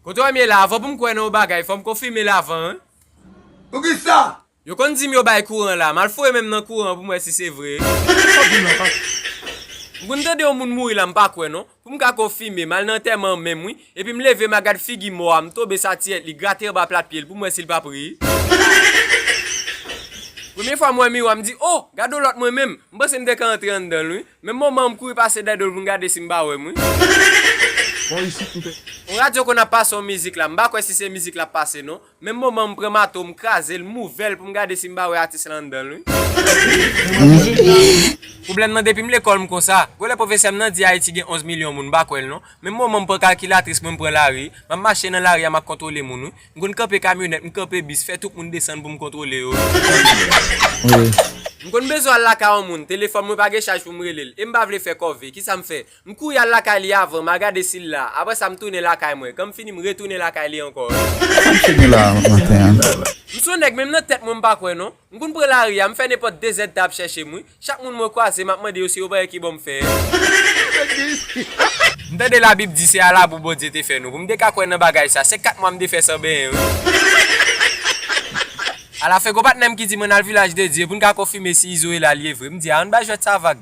Kote wèm ye la avan poum kwè nan yon bagay fòm konfimel avan wi. Poukisa? Yo konn dim yo bay kouran la, mal foure menm nan kouran poum wè si se vre. Kote fòk dim nan pase? M konn tande yon moun mouri la m pa kwè non, poum ka konfime, mal nan antèman an menm wi, epim leve ma gad figi mò a, m tonbe sa tiyèt li, grate anba plat pyel poum wè sil pap rii. Premye fwa m wè miwa m di oh! Gadon lòt mwen menm, m panse m te ka antre anndanl wi. Menm moman an m kouri pase dèyè do l pou m gade si m pa wè m wi. Bò isit m te. On radyo konn ap pase on mizik la, m pa kwè si se mizik l ap pase non. Menm moman an m pran mato m kraze l, m ouvè l pou m gade si m pa wè atis lan anndan l wi. Pwoblèm nan depi m lekòl m konsa. Gwo lè pwofesè m nan di Ayiti gen 11 milyon moun m pa kwè l non. Menm moman m pran kalkilatris mwen m pran lari, m ap mache nan lari a m ap kontwole moun wi. M konn kanpe kamyonèt, m kanpe bis, fè tout moun desann pou m kontwole yo, anmweyy. M konn bezwen al lakay yon moun, telefòn mwen pa gen chaj pou m rele l, e m pa vle fè kòve, kisa m fè? M kouri al lakay li avan, m a gade si l la, apre sa m tounen lakay mwen, kan m fini m retounen lakay li ankò. Sa m cheke la maten an? M s on nèg men nan tèt mwen m pa kwè non. M konn pran lari a, m fè nenpòt de zèt ta ap chèche m wi. Chak moun mwen kwaze, m ap mande yo si yo pa gen ki bò m fè è. M tande Labib di se a labou Bondye te fè nou. Pou m te ka kwè nan bagay sa, se kat mwa m te fè san benyen wi. Alafen, gon patnè m ki di m ann al Vilaj de Dye pou n ka konfime si Izo e la lye vre. M di a, ann bay jwèt sa vag.